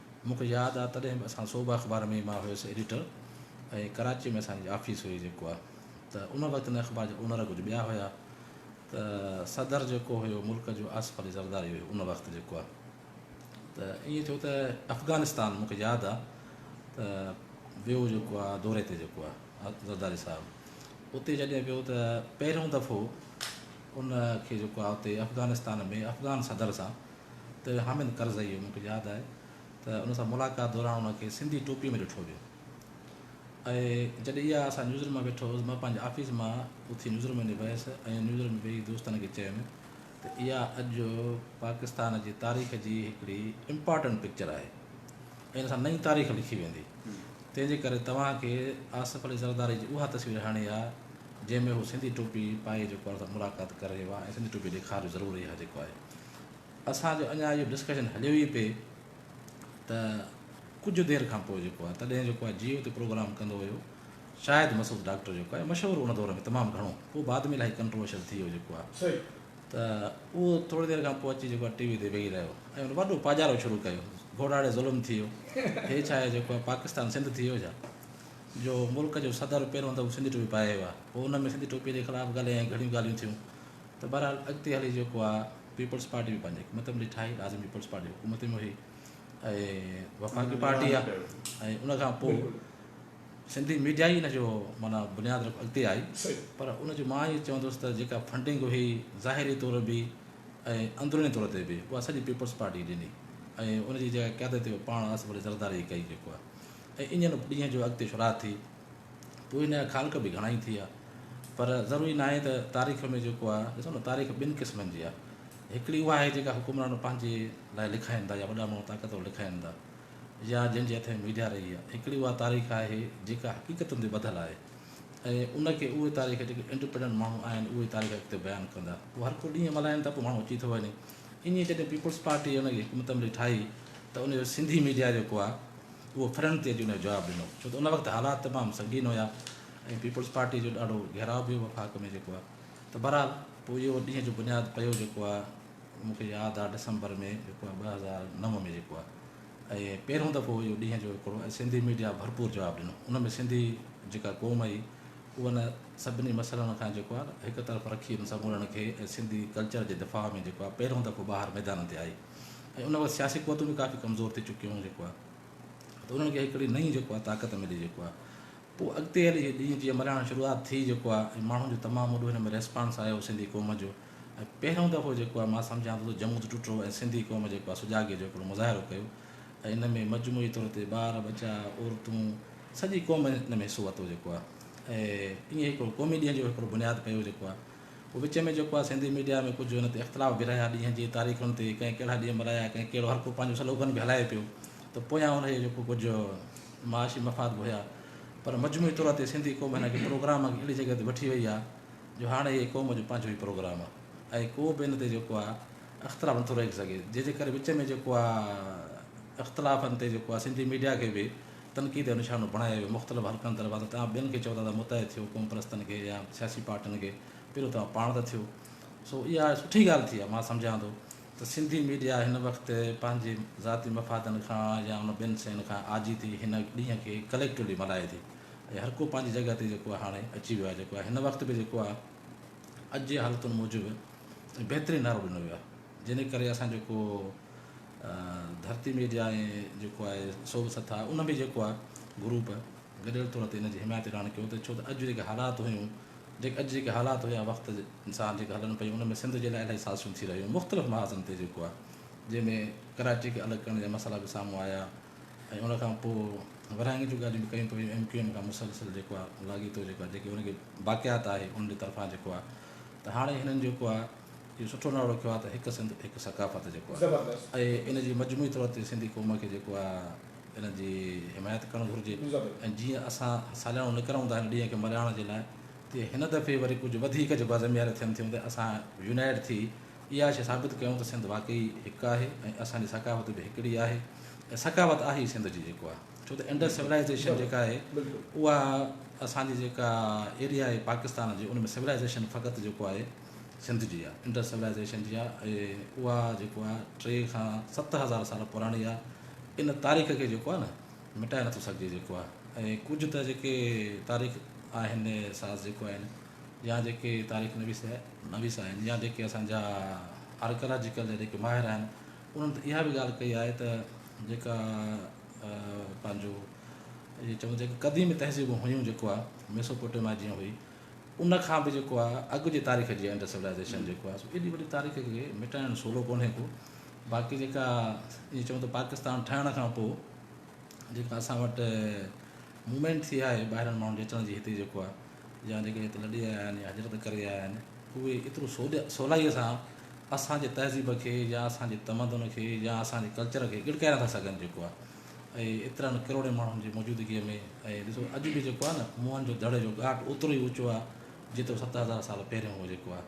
مون کي ياد آ تڏهن به اسان صوبه اخبار ۾ ئي مان هيس ايڊيٽر ۽ ڪراچي ۾ اسان جي آفيس هئي جيڪو آ ته ان وقت ان اخبار جا اونر ڪجهه ٻيا هيا ته صدر جيڪو هيو ملڪ جو آصف علي زرداري هيو ان وقت جيڪو آ ته ائين ٿيو ته افغانستان مون کي ياد آ ته ويو جيڪو آ دوري تي جيڪو آ زرداري صاحب اتي جڏهن ويو ته پهريون دفعو ان کي جيڪو آ اتي افغانستان ۾ افغان صدر سان ته حامد ڪرزئيء مون کي ياد آهي ته ان سان ملاقات دوران ان کي سنڌي ٽوپيء ۾ ڏٺو ويو ۽ جڏهن اها اسان نيوز روم مان ويٺو هوس مان پنهنجي آفيس مان اٿي نيوز روم ۾ ويس ۽ نيوز روم ۾ ويهي دوستن کي چيم ته اها اڄ پاڪستان جي تاريخ جي هڪڙي امپارٽنٽ پڪچر آهي ۽ ان سان نئين تاريخ لکي ويندي تنهن جي ڪري توهان کي آصف علي زرداري جي اها تصوير هڻي آ جنهن ۾ هو سنڌي ٽوپي پائي جيڪو اسان سان ملاقات ڪري رهيو آهي ۽ سنڌي ٽوپي ڏيکارجو ضرور اها جيڪو آهي اسان جو اڃا اهو ڊسڪشن هليو ئي پئي ته ڪجهه دير کان پوء جيڪو آهي تڏهن جيڪو آهي جيو تي پروگرام ڪندو هيو شاهد مسعود ڊاڪٽر جيڪو آهي مشهور ان دور ۾ تمام گهڻو پوء بعد ۾ الائي ڪنٽروورشل ٿي ويو جيڪو آهي ته اهو ٿوري دير کان پوء اچي جيڪو آهي ٽي وي تي ويهي رهيو ۽ ان وڏو پاڄارو شروع ڪيو گهوڙاڙي ظلم ٿي ويو هي ڇا آهي جيڪو آهي پاڪستان سنڌ ٿي ويو ڇا جو ملڪ جو صدر پهريون دفعو سنڌي ٽوپي پائي ويو آهي پوء ان ۾ سنڌي ٽوپي جي خلاف ڳالهيائين گهڻيون ڳالهيون ٿيون ته بهرحال اڳتي هلي جيڪو آ پيپلز پارٽي به پنهنجي حڪومت عملي ٺاهي بعد ۾ پيپلز پارٽي حڪومت ۾ وئي ۽ وفاقي پارٽي آ ۽ ان کان پوء سنڌي ميڊيا ئي ان جو مانا بنياد رک اڳتي آئي پر ان جو مان ائين چوندس ته جيڪا فنڊنگ هئي ظاهري طور به ۽ اندروني طور تي به اها سڄي پيپلز پارٽي ڏني ۽ ان جي جيڪا قيادت پاڻ آس وڏي زرداري ڪئي جيڪو آ ۽ انجن ڏينهن جو اڳتي شروعات ٿي اهي نيا خالق به گهڻائي ٿيا پر ضروري ناهي ته تاريخ ۾ جيڪو آهي ڏسو نه تاريخ ٻن قسمن جي آهي هڪڙي اها آهي جيڪا حڪمران پنهنجي لاء لکائين ٿا يا وڏا ماڻهو طاقتور لکائين ٿا يا جن جي هٿ ۾ ميڊيا رهي آهي هڪڙي اها تاريخ آهي جيڪا حقيقتن تي ٻڌل آهي ۽ ان کي اهي تاريخ جيڪي انڊيپينڊنٽ ماڻهو آهن اهي تاريخ اڳتي بيان ڪندا هو هر ڪو ڏينهن ملهائين ٿا پوء ماڻهو اچي ٿو وڃي ائين جڏهن پيپلز پارٽي ان جي حڪمت عملي ٺاهي ته ان جو سنڌي ميڊيا جيڪو آهي اهو ڦرهن تي جنيو جواب ڏنو ڇو ته ان وقت حالات تمام سنگين هيا ۽ پيپلز پارٽي جو ڏاڍو گهيراء به هو وفاق ۾ جيڪو آهي ته بهرحال پوء اهو ڏينهن جو بنياد پيو جيڪو آهي مون کي ياد آهي ڊسمبر ۾ جيڪو آهي ٻه هزار نو ۾ جيڪو آهي ۽ پهريون دفعو اهو ڏينهن جو هڪڙو ۽ سنڌي ميڊيا ڀرپور جواب ڏنو ان ۾ سنڌي جيڪا قوم هئي اهو ان سڀني مسئلن کان جيڪو آهي هڪ طرف رکي ان سمورن کي ۽ سنڌي ڪلچر جي دفاع ۾ جيڪو آهي پهريون دفعو ٻاهر ميدانن تي آئي ۽ ان وقت سياسي قوتون به ڪافي ڪمزور ٿي چڪيون هيون جيڪو آهي ته انهن کي هڪڙي نئين جيڪو آهي طاقت ملي جيڪو آهي پوء اڳتي هلي هي ڏينهن جيئن ملهائڻ شروعات ٿي جيڪو آهي ۽ ماڻهن جو تمام وڏو هن ۾ ريسپانس آيو سنڌي قوم جو ۽ پهريون دفعو جيڪو آهي مان سمجهان ٿو ته جمود ٽٽو ۽ سنڌي قوم جيڪو آهي سجاڳي جو هڪڙو مظاهرو ڪيو ۽ ان ۾ مجموعي طور تي ٻار ٻچا عورتون سڄي قوم ان ۾ حصو ورتو جيڪو آهي ۽ ائين هڪڙو قومي ڏينهن جو هڪڙو بنياد پيو جيڪو آهي وچ ۾ جيڪو آ سنڌي ميڊيا ۾ ڪجهه ان تي اختلاف به رهيا ڏينهن جي تاريخن تي ڪنهن ڪهڙا ڏينهن ملهايا ڪنهن ڪهڙو هر ڪو پنهنجو سلوگن به هلائي پيو ته پويان ان جي جيڪو ڪجهه معاشي مفاد به هيا پر مجموعي طور تي سنڌي قوم هن کي پروگرام کي اهڙي جڳهه تي وٺي وئي آ جو هاڻي هي قوم جو پنهنجو ئي پروگرام آ ۽ ڪو به ان تي جيڪو آ اختلاف نٿو رهي سگهي جنهن جي ڪري وچ ۾ جيڪو آ اختلافن تي جيڪو آ سنڌي ميڊيا کي به تنقيد جو نشانو بڻايو ويو، مختلف حلقن طرفان ته توهان ٻين کي چئو ٿا ته متحد ٿيو، قوم پرستن کي يا سياسي پارٽين کي، پهريون توهان پاڻ ته ٿيو. سو اها سٺي ڳالهه ٿي آهي، مان سمجهان ٿو ته سنڌي ميڊيا هن وقت پنهنجي ذاتي مفادن کان يا ان ٻين شين کان آجي ٿي هن ڏينهن کي ڪليڪٽولي ملهائي ٿي ۽ هر ڪو پنهنجي جڳهه تي جيڪو هاڻي اچي ويو آهي جيڪو آهي هن وقت به جيڪو آهي اڄ جي حالتن موجب بهترين نعرو ڏنو ويو آهي. جنھن ڪري اسان جيڪو ڌرتي ميڊيا ۽ جيڪو آھي سوڀ سٿا ان به جيڪو آھي گروپ گڏيل طور تي ان جي حمايت اعلان ڪيو ته ڇو ته اڄ جيڪي حالات ھيون جيڪي اڄ جيڪي حالات ھيا وقت انسان جيڪي ھلن پيون ان ۾ سنڌ جي لاء الاھي سازشون ٿي رھيون مختلف محاذن تي جيڪو آھي جنھن ۾ ڪراچي کي الڳ ڪرڻ جا مسئلا به سامھون آيا ۽ ان کان پوء ورھاڱي جون ڳالھيون به ڪيون پيون ايم ڪيو ايم کان مسلسل جيڪو آھي لاڳيتو جيڪو آھي جيڪي ان کي باقيات آھي ان جي طرفان جيڪو آھي ته ھاڻي ھنن جيڪو آھي اهو سٺو نالو رکيو آهي ته هڪ سنڌ هڪ ثقافت جيڪو آهي ۽ ان جي مجموعي طور تي سنڌي قوم کي جيڪو آهي ان جي حمايت ڪرڻ گهرجي ۽ جيئن اسان ساليانو نڪرون ٿا هن ڏينهن کي ملهائڻ جي لاء تيئن هن دفعي وري ڪجهه وڌيڪ جيڪو آهي ذميواريون ٿين ٿيون ته اسان يونائيٽ ٿي اها شيء ثابت ڪيون ته سنڌ واقعي هڪ آهي ۽ اسان جي ثقافت به هڪڙي آهي ۽ ثقافت آهي ئي سنڌ جي جيڪو آهي ڇو ته انڊس سولائيزيشن جيڪا آهي اها اسان جي جيڪا ايريا آهي پاڪستان جي ان ۾ سولائيزيشن فقط جيڪو آهي سنڌ جي آهي انڊس سولائيزيشن جي آهي ۽ اها جيڪو آهي ٽي کان ست هزار سال پراڻي آهي ان تاريخ کي جيڪو آهي نه مٽائي نٿو سگهجي جيڪو آهي ۽ ڪجهه ته جيڪي تاريخ آهن ساز جيڪو آهن يا جيڪي تاريخ نويس آهي نويس آهن يا جيڪي اسانجا آرڪلاجيڪل جا جيڪي ماهر آهن انهن ته اها بي ڳالهه ڪئي آهي ته جيڪا پنهنجو جي چون جيڪي قديمي تهذيبون هيون جيڪو آهي ميسوپوٽيما جيئن هئي ان کان به جيڪو آهي اڳ جي تاريخ جي انڊس سولائيزيشن جيڪو آهي سو ايڏي وڏي تاريخ کي مٽائڻ سولو ڪونهي ڪو باقي جيڪا ائين چون ته پاڪستان ٺهڻ کان پوء جيڪا اسان وٽ موومينٽ ٿي آهي ٻاهرن ماڻهن جي اچڻ جي هتي جيڪو آهي يا جيڪي هت لڏي آيا آهن يا هجرت ڪري آيا آهن اهي ايترو سولي سولائيء سان اسانجي تهذيب کي يا اسانجي تمدن کي يا اسانجي ڪلچر کي ڳڙڪائي نٿا سگهن جيڪو آهي ۽ ايترن ڪروڙين ماڻهن جي موجودگيء ۾ ۽ ڏسو اڄ به جيڪو آهي نه موهن جو دڙي جو ڳاٽ اوترو ئي اوچو آهي جيترو ست هزار سال پهريون هو جيڪو آهي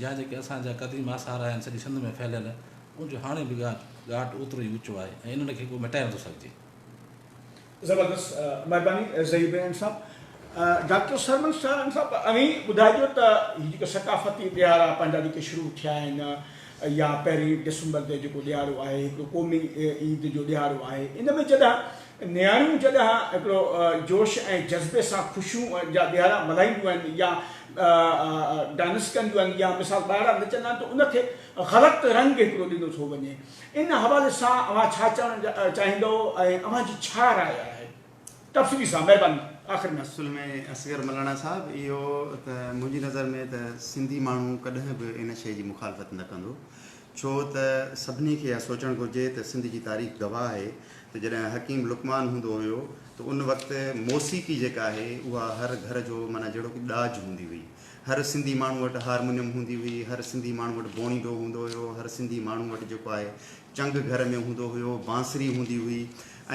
يا جيڪي اسان جا قديم آثار آهن سڄي سنڌ ۾ ڦهليل ان جو هاڻي به ڳاٽ ڳاٽ اوترو ئي اوچو آهي ۽ انهن کي ڪو مٽائي نٿو سگهجي. زبردست مهرباني زئي بيان صاحب. ڊاڪٽر سرمن سارنگ صاحب اوهين ٻڌائجو ته هي جيڪا ثقافتي ڏهاڙا پنهنجا جيڪي شروع ٿيا آهن يا پهرين ڊسمبر تي جيڪو ڏيهاڙو آهي هڪڙو قومي عيد جو ڏيهاڙو آهي ان ۾ جڏهن نياڻيون جڏهن هڪڙو جوش ۽ جذبي سان خوشيون جا ڏيهاڙا ملهائينديون آهن يا ڊانس ڪنديون آهن يا مثال ٻارڙا نچندا آهن ته ان کي غلط رنگ هڪڙو ڏنو ٿو وڃي ان حوالي سان اوهان ڇا چوڻ چاهيندؤ ۽ اوهان جي ڇا راء آهي. تفصيلي سان مهرباني آخر ۾. اصل ۾ اصغر ملاڻا صاحب اهو ته منهنجي نظر ۾ ته سنڌي ماڻهو ڪڏهن به ان شيء جي مخالفت نه ڪندو ڇو ته سڀني کي اها سوچڻ گهرجي ته سنڌ جي تاريخ گواهه آهي ته جڏهن حڪيم لقمان هوندو هيو ته ان وقت موسيقي جيڪا آهي اها هر گهر جو معنيٰ جهڙوڪ ڏاج هوندي هئي هر سنڌي ماڻهو وٽ هارمونيم هوندي هئي هر سنڌي ماڻهو وٽ بوڻيڊو هوندو هيو هر سنڌي ماڻهو وٽ جيڪو آهي چنگ گهر ۾ هوندو هيو، بانسري هوندي هئي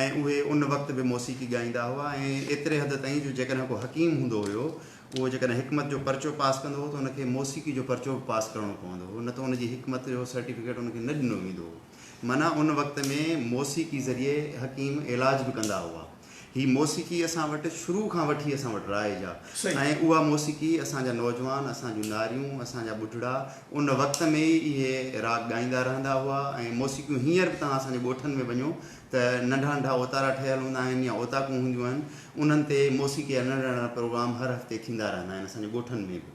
۽ اهي ان وقت به موسيقي ڳائيندا هئا ۽ ايتري حد تائين جو جيڪڏهن ڪو حڪيم هوندو هيو اهو جيڪڏهن حڪمت جو پرچو پاس ڪندو هو ته ان کي موسيقي جو پرچو به پاس ڪرڻو پوندو هو نه ته ان جي حڪمت جو سرٽيفڪيٽ ان کي نه ڏنو ويندو هو معنيٰ ان وقت ۾ موسيقي ذريعي حڪيم علاج به ڪندا هئا. هي موسيقي اسان وٽ شروع کان وٺي اسان وٽ رائج آ ۽ اها موسيقي اسان جا نوجوان اسان جون ناريون اسان جا ٻڍڙا ان وقت ۾ ئي اهي راڳ ڳائيندا رهندا هئا ۽ موسيقيون هينئر به توهان اسان جي ڳوٺن ۾ وڃو ته ننڍا ننڍا اوتارا ٺهيل هوندا آهن يا اوطاقون هونديون آهن انهن تي موسيقي جا ننڍڙا ننڍڙا پروگرام هر هفتي ٿيندا رهندا آهن اسان جي ڳوٺن ۾ به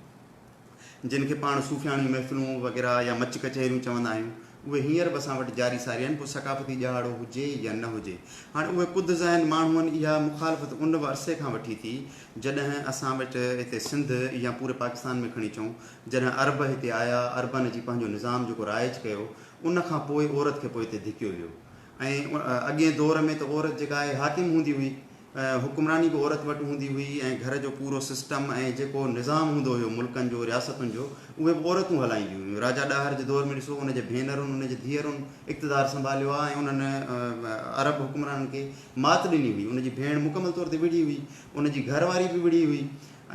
جن کي پاڻ صوفياڻيون محفلون وغيره يا مچ ڪچهريون چوندا آهيون، اهي هينئر به اسان وٽ جاري ساري آهن، پوء ثقافتي ڏهاڙو هجي يا نه هجي. هاڻي اهي ڪڌ ذهن ماڻهوئن اها مخالفت ان به عرصي کان وٺي ٿي، جڏهن اسان وٽ هتي سنڌ يا پوري پاڪستان ۾ کڻي چئون، جڏهن عرب هتي آيا، عربن اچي پنهنجو نظام جيڪو رائج ڪيو، ان کان پوء عورت کي پوئتي ڌڪيو ويو ۽ اڳئين دور ۾ ته عورت جيڪا آهي حاڪم هوندي هئي، حڪمراني به عورت وٽ هوندي هئي ۽ گهر جو پورو سسٽم ۽ جيڪو نظام هوندو هيو ملڪن جو رياستن جو اهي به عورتون هلائينديون هيون راجا ڏاهر جي دور ۾ ڏسو ان جي ڀينرن ان جي ڌيئرن اقتدار سنڀاليو آ ۽ انهن عرب حڪمرانن کي مات ڏني هئي ان جي ڀيڻ مڪمل طور تي وڙهي هئي ان جي گهر واري به وڙهي هئي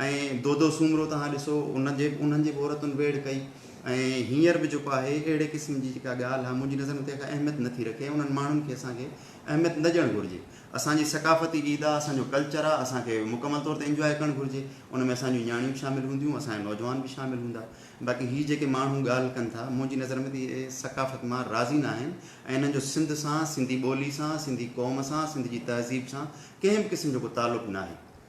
۽ دودو سومرو توهان ڏسو ان جي انهن جي به عورتن ويڙهه ڪئي ۽ هينئر به جيڪو آهي اهڙي قسم جي جيڪا ڳالهه آ منهنجي نظر ۾ تنهن کي اهميت نٿي رکي ۽ انهن ماڻهن کي اسان کي اهميت نه ڏيڻ گهرجي اسان جي ثقافتي عيد آ، اسان جو ڪلچر آ، اسان کي مڪمل طور تي انجواء ڪرڻ گهرجي، ان ۾ اسان جون نياڻيون به شامل هونديون، اسان جا نوجوان به شامل هوندا، باقي هي جيڪي ماڻهو ڳالهه ڪن ٿا، منهنجي نظر ۾ ته اهي ثقافت مان راضي نه آهن ۽ انهن جو سنڌ سان، سنڌي ٻولي سان، سنڌي قوم سان، سنڌ جي تهذيب سان ڪنهن به قسم جو ڪو تعلق ناهي.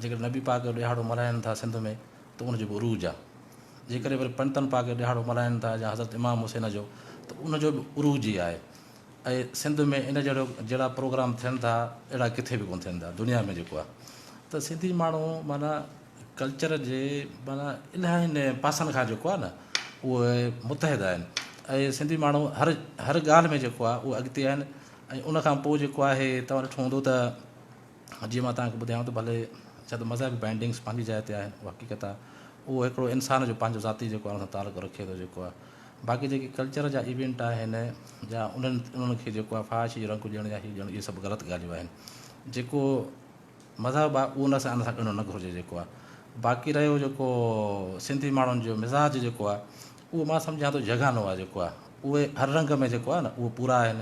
جيڪڏهن نبي پاڪ جو ڏهاڙو ملهائين ٿا سنڌ ۾ ته ان جو به عروج آ جيڪڏهن وري پنڊتن پاڪ جو ڏهاڙو ملهائين ٿا يا حضرت امام حسين جو ته ان جو به عروج ئي آهي ۽ سنڌ ۾ ان جهڙو جهڙا پروگرام ٿين ٿا اهڙا ڪٿي به ڪونه ٿين ٿا دنيا ۾ جيڪو آ ته سنڌي ماڻهو معنيٰ ڪلچر جي معنيٰ الاهين پاسن کان جيڪو آ نه اهي متحد آهن ۽ سنڌي ماڻهو هر هر ڳالهه ۾ جيڪو آ اهي اڳتي آهن ۽ ان کان پوء جيڪو آهي تون ڏٺو هوندو ته جيئن مان توهان کي ٻڌايو ته ڀلي ڇا ته مذهبي بائنڊنگس پنهنجي جاء تي آهي اها حقيقت آهي اهو هڪڙو انسان جو پنهنجو ذاتي جيڪو آهي ان سان تعلق رکي ٿو جيڪو آهي باقي جيڪي ڪلچر جا ايونٽ آهن جا انهن انهن کي جيڪو آهي فحاشي جو رنگ ڏيڻ يا هي ڏيڻ اهي سڀ غلط ڳالهيون آهن جيڪو مذهب آهي اهو ان سان ان سان ڏيڻو نه گهرجي جيڪو آهي باقي رهيو جيڪو سنڌي ماڻهن جو مزاج جيڪو آهي اهو مان سمجهان ٿو جهڳانو آهي جيڪو آهي اهي هر رنگ ۾ جيڪو آهي نه اهو پورا آهن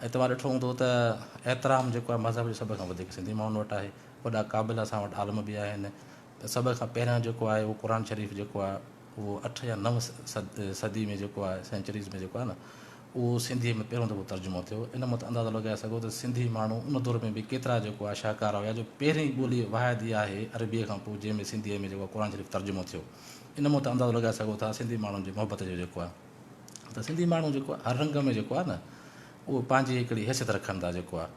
۽ توهان ڏٺو هوندو ته احترام جيڪو آهي مذهب جو سڀ کان وڌيڪ سنڌي ماڻهن وٽ آهي وڏا قابل اسان وٽ عالم به آهن ته سڀ کان پهريان جيڪو آهي اهو قرآن شريف جيڪو آهي اهو اٺ يا نو صدي ۾ جيڪو آهي سينچريز ۾ جيڪو آهي نه اهو سنڌي ۾ پهريون دفعو ترجمو ٿيو ان مت اندازو لڳائي سگهو ته سنڌي ماڻهو ان دور ۾ به ڪيترا جيڪو آهي شاهڪار هيا جو پهرين ٻولي واحد اها آهي عربي کان پوء جنهن ۾ سنڌي ۾ جيڪو قرآن شريف ترجمو ٿيو ان مون تان اندازو لڳائي سگهو ٿا سنڌي ماڻهن جي محبت جو جيڪو آهي ته سنڌي ماڻهو جيڪو آهي هر رنگ ۾ جيڪو آهي نه اهو پنهنجي هڪڙي حيثيت رکن ٿا جيڪو آهي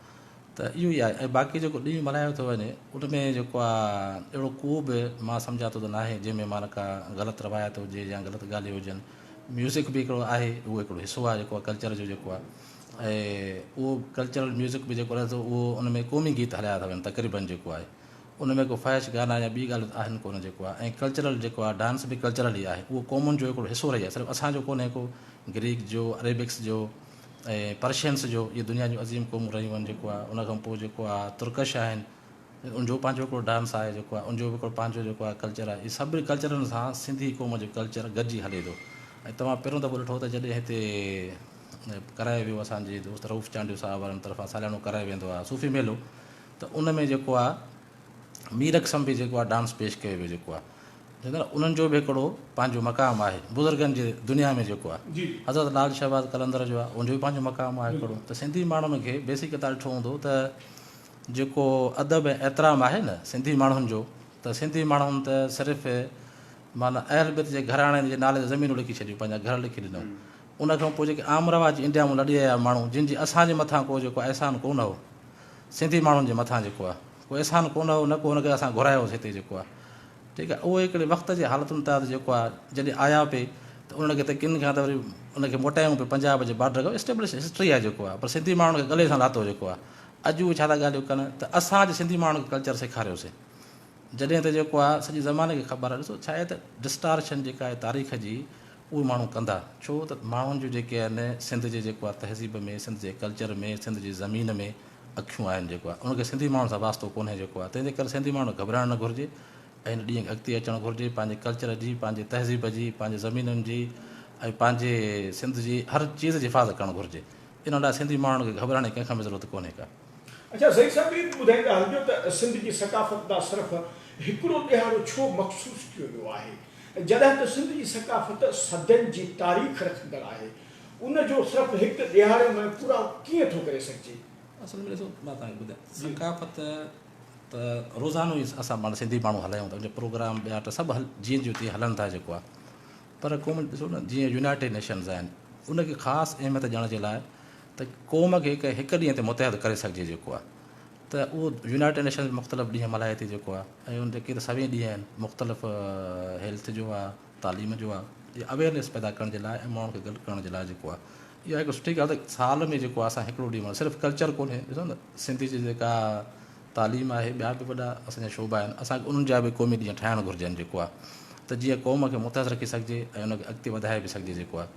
ته اهو ئي آهي ۽ باقي جيڪو ڏينهن ملهايو ٿو وڃي ان ۾ جيڪو آهي اهڙو ڪو به مان سمجهان ٿو ته ناهي جنهن ۾ معنيٰ ڪا غلط روايت هجي يا غلط ڳالهيون هجن ميوزڪ به هڪڙو آهي اهو هڪڙو حصو آهي جيڪو آهي ڪلچر جو جيڪو آهي ۽ اهو ڪلچرل ميوزڪ به جيڪو رهي ٿو اهو ان ۾ قومي گيت هلايا ٿا وڃن تقريبن جيڪو آهي ان ۾ ڪو فحش گانا يا ٻي ڳالهيون ته آهن ڪونه جيڪو آهي ۽ ڪلچرل جيڪو آهي ڊانس به ڪلچرل ئي آهي اهو قومن جو هڪڙو حصو رهي آهي صرف اسان جو ڪونهي ڪو گريڪ جو عريبڪس جو ۽ پرشينس جو اهي دنيا جون عظيم قومون رهيون آهن جيڪو آهي ان کان پوء جيڪو آهي ترڪش آهن ان جو پنهنجو هڪڙو ڊانس آهي جيڪو آهي ان جو به هڪڙو پنهنجو جيڪو آهي ڪلچر آهي اهي سڀني ڪلچرن سان سنڌي قوم جو ڪلچر گڏجي هلي ٿو ۽ توهان پهريون دفعو ڏٺو ته جڏهن هتي ڪرايو ويو اسان جي دوست رئوف چانڊيو صاحب وارن طرفان ساليانو ڪرايو ويندو آهي صوفي ميلو ته ان ۾ جيڪو آ مير قسم به جيڪو آ ڊانس پيش ڪيو ويو جيڪو آ انهن جو به هڪڙو پنهنجو مقام آهي بزرگن جي دنيا ۾ جيڪو آ حضرت لال شهباز قلندر جو آ ان جو به پنهنجو مقام آهي هڪڙو ته سنڌي ماڻهن کي بيسڪ تان ڏٺو هوندو ته جيڪو ادب ۽ احترام آهي نه سنڌي ماڻهن جو ته سنڌي ماڻهن ته صرف معنيٰ اهل بيت جي گهراڻي جي نالي تي زمينون لکي ڇڏيون پنهنجا گهر لکي ڏنو ان کان پوء جيڪي عام رواج انڊيا مون لڏي آيا ماڻهو جن جي اسان جي مٿان ڪو جيڪو احسان ڪو نه هو سنڌي ماڻهن جي مٿان جيڪو آهي ڪو احسان ڪونه هو نه ڪو هن کي اسان گهرايو هوس هتي جيڪو آهي ٺيڪ آهي اهو هڪڙي وقت جي حالتن تحت جيڪو آهي جڏهن آيا پي ته انهن کي هتي ڪن کان ته وري ان کي موٽايون پي پنجاب جي بارڊر کان اسٽيبلش هسٽري آهي جيڪو آهي پر سنڌي ماڻهن کي گلي سان لاتو جيڪو آهي اڄ اهي ڇا ٿا ڳالهيون ڪن ته اسان اڄ سنڌي ماڻهن کي ڪلچر سيکاريوسين جڏهن ته جيڪو آ سڄي زماني کي خبر آ ڏسو ڇا آهي ته ڊسٽارشن جيڪا آهي تاريخ جي اهي ماڻهو ڪندا ڇو ته ماڻهن جون جيڪي آهن سنڌ جي جيڪو آ تهذيب ۾ سنڌ جي ڪلچر ۾ سنڌ جي زمين ۾ اکيون آهن جيڪو آ ان کي سنڌي ماڻهن سان واسطو ڪونهي جيڪو آ تنهنجي ڪري سنڌي ماڻهن کي گهٻرائڻ نه گهرجي ۽ ان ڏينهن کي اڳتي اچڻ گهرجي پنهنجي ڪلچر جي پنهنجي تهذيب جي پنهنجي زمينن جي ۽ پنهنجي سنڌ جي هر چيز جي حفاظت ڪرڻ گهرجي ان لاء سنڌي ماڻهن کي گهٻرائڻ جي ڪنهن کان به ضرورت ڪونهي ڪا. اڇا زئيد صاحب هي به ٻڌائيندا هلجو ته سنڌ جي ثقافت ڏانهن صرف هڪڙو ڏيهاڙو ڇو مخصوص ڪيو ويو آهي جڏهن ته سنڌ جي ثقافت صدين جي تاريخ رکندڙ آهي ان جو صرف هڪ ڏيهاڙي ۾ پورائو ڪيئن ٿو ڪري سگهجي. اصل ۾ ڏسو مان توهان کي ٻڌايان ثقافت ته روزانو ئي اسان پاڻ سنڌي ماڻهو هلايون ٿا ان جو پروگرام ٻيا ٽا سڀ هل جيئن جو تيئن هلن ٿا جيڪو آهي پر قوم ڏسو نه جيئن يونائيٽيڊ نيشنز آهن ان کي خاص اهميت ڏيڻ جي لاء ته قوم کي هڪ هڪ ڏينهن تي متحد ڪري سگهجي جيڪو آهي ته اهو يونائيٽيڊ نيشنز مختلف ڏينهن ملهائي ٿي جيڪو آهي ۽ ان جا ڪيترا سوين ڏينهن آهن مختلف هيلٿ جو آهي تعليم جو آهي جي اويئرنيس پيدا ڪرڻ جي لاء ۽ ماڻهن کي گڏ ڪرڻ جي لاء جيڪو آهي اها هڪ سٺي ڳالهه سال ۾ جيڪو آهي اسان هڪڙو ڏينهن ملهائي صرف ڪلچر ڪونهي ڏسو نه سنڌي جي جيڪا تعليم آهي ٻيا به وڏا اسان جا شعبا آهن اسان کي انهن جا به قومي ڏينهن ٺاهڻ گهرجن جيڪو آهي ته جيئن قوم کي متحد رکي سگهجي ۽ ان کي اڳتي وڌائي به سگهجي جيڪو آهي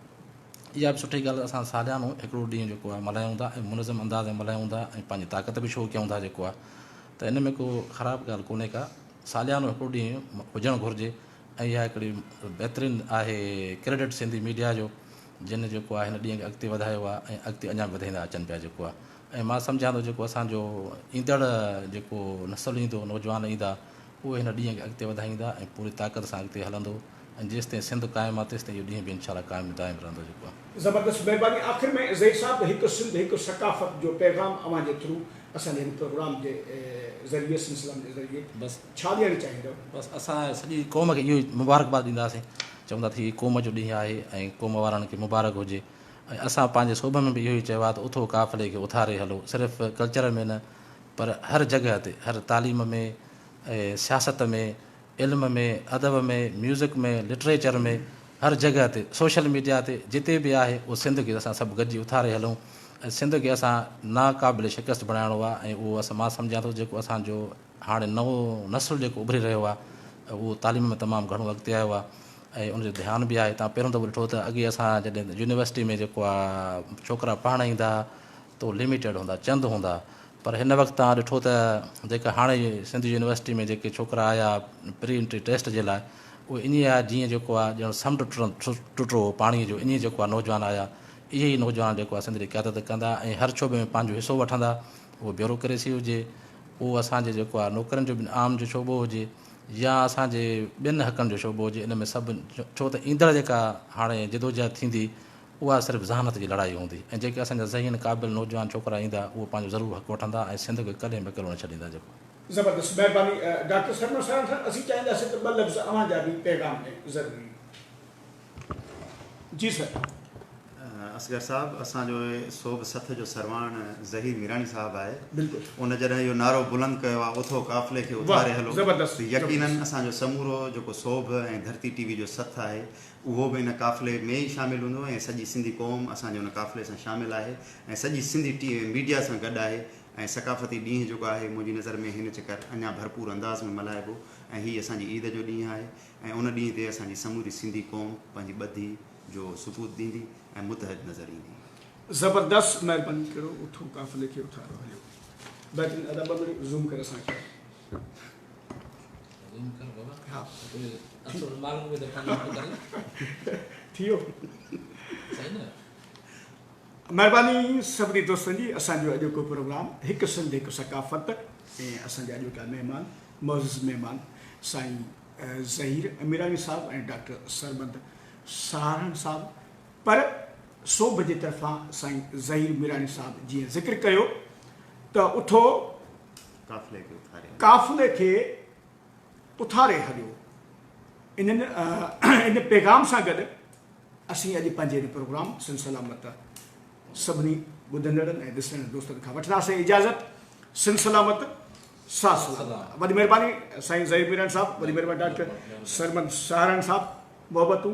اها به سٺي ڳالهه اسان ساليانو هڪڙو ڏينهن جيڪو آهي ملهايون ٿا ۽ منظم انداز ۾ ملهايون ٿا ۽ پنهنجي طاقت به شو ڪيون ٿا جيڪو آهي ته ان ۾ ڪو خراب ڳالهه ڪونهي ڪا ساليانو هڪڙو ڏينهن هجڻ گهرجي ۽ اها هڪڙي بهترين آهي ڪريڊٽ سنڌي ميڊيا جو جن جيڪو آهي هن ڏينهن کي اڳتي وڌايو آهي ۽ اڳتي اڃا به وڌائيندا اچن پيا جيڪو آهي ۽ مان سمجهان ٿو جيڪو اسان جو ايندڙ جيڪو نسل ايندو نوجوان ايندا اهي هن ڏينهن کي اڳتي وڌائيندا ۽ پوري طاقت سان اڳتي هلندو ۽ جيستائين سنڌ قائم آ تيستائين اهو ڏينهن به انشاء الله قائم دائم رهندو جيڪو. زبردست مھرباني آخر ۾ زئي صاحب ھڪ سنڌ ھڪ ثقافت جو پيغام اوھان جي ٿرو اسان جي ھن پروگرام جي ذريعي سلسلن جي ذريعي بس ڇا ڏيڻ چاھيندؤ. بس اسان سڄي قوم کي اھو ئي مبارڪباد ڏينداسين چوندا ته ھي قوم جو ڏينھن آھي ۽ قوم وارن کي مبارڪ ھجي ۽ اسان پنهنجي سوڀ ۾ به اهو ئي چيو آهي ته اٿو قافلي کي اٿاري هلو صرف ڪلچر ۾ نه پر هر جڳهه تي هر تعليم ۾ سياست ۾ علم ۾ ادب ۾ ميوزڪ ۾ لٽريچر ۾ هر جڳهه تي سوشل ميڊيا تي جتي به آهي اهو سنڌ کي اسان سڀ گڏجي اٿاري هلون ۽ سنڌ کي اسان ناقابل شڪست بڻائڻو آهي ۽ اهو اسان مان سمجهان ٿو جيڪو اسان جو هاڻي نئون نسل جيڪو اڀري رهيو آهي اهو تعليم ۾ تمام گهڻو اڳتي آيو آهي ۽ ان جو ڌيان به آهي تان پهريون دفعو ڏٺو ته اڳي اسان جڏهن يونيورسٽي ۾ جيڪو آهي ڇوڪرا پڙهڻ ايندا تو لميٽيڊ هوندا چند هوندا پر هن وقت تان ڏٺو ته جيڪا هاڻي سنڌ يونيورسٽي ۾ جيڪي ڇوڪرا آيا پري انٽري ٽيسٽ جي لاء اهو ائين آيا جيئن جيڪو آهي ڄڻ سمنڊ ٽٽو هو پاڻي جو ائين جيڪو آهي نوجوان آيا اهي ئي نوجوان جيڪو آهي سنڌ جي قيادت ڪندا ۽ هر شعبي ۾ پنهنجو حصو وٺندا اهو بيوروڪريسي هجي اهو اسان جي جيڪو آهي نوڪرين جو بنهه عام جو شعبو هجي يا اسان جي ٻين حقن جو شعبو هجي ان ۾ سڀ ڇو ته ايندڙ جيڪا هاڻي جدوجهد ٿيندي اها صرف ذهانت جي لڙائي هوندي ۽ جيڪي اسان جا ذهين قابل نوجوان ڇوڪرا ايندا اهي پنهنجو ضرور حق وٺندا ۽ سنڌ کي ڪڏهن به اڪيلو نه ڇڏيندا جيڪو زبردست مهرباني ڊاڪٽر سرمست سرانٿڻ اسين چاهينداسين ته ٻه لفظ اوهان جا به پيغام ۾ ضروري جي سر. اصغر صاحب اسان جو سوڀ سٿ جو سرواڻ ظهير ميراڻي صاحب آهي بلڪل ان جڏهن اهو نعرو بلند ڪيو آهي اٿو قافلي کي اٿاري هلو ته يقينا اسان جو سمورو جيڪو سوڀ ۽ ڌرتي ٽي وي جو سٿ آهي اهو به ان قافلي ۾ ئي شامل هوندو ۽ سڄي سنڌي قوم اسان جي ان قافلي سان شامل آهي ۽ سڄي سنڌي ٽي ميڊيا سان گڏ آهي ۽ ثقافتي ڏينهن جيڪو آهي منهنجي نظر ۾ هن چڪر اڃا ڀرپور انداز ۾ ملهائبو ۽ هي اسان جي عيد جو ڏينهن آهي ۽ ان ڏينهن تي اسان جي سموري سنڌي قوم پنهنجي ٻڌي جو ثبوت ڏيندي ۽ متحد نظر ايندي. زبردست مهرباني ڪريو اٿو قافلي کي اٿارو هليو بهترين ادا ٻه منٽ زوم ڪر اسان کي. زوم ڪر بابا ها اصل ماڻهو به ته پنهنجو ٿو ڪري ٿي ويو صحيح نه مهرباني سڀني دوستن جي اسان جو اڄوڪو پروگرام هڪ سنڌ هڪ ثقافت ۽ اسان جا اڄوڪا مهمان معزز مهمان سائين ظهير اميراڻي صاحب ۽ ڊاڪٽر سربند سهارڻ صاحب پر سوڀ جي طرفان سائين ظهير ميراڻي صاحب جيئن ذڪر ڪيو ته اٿو قافلي کي اٿاري هليو انهن ان پيغام سان گڏ اسين اڄ پنهنجي هن پروگرام سن سلامت سڀني ٻڌندڙن ۽ ڏسندڙ دوستن کان وٺنداسين اجازت سن سلامت سا سلام وڏي مھرباني سائين ظھير ميران صاحب وڏي مھرباني ڊاڪٽر سرمد ساھران صاحب محبتون.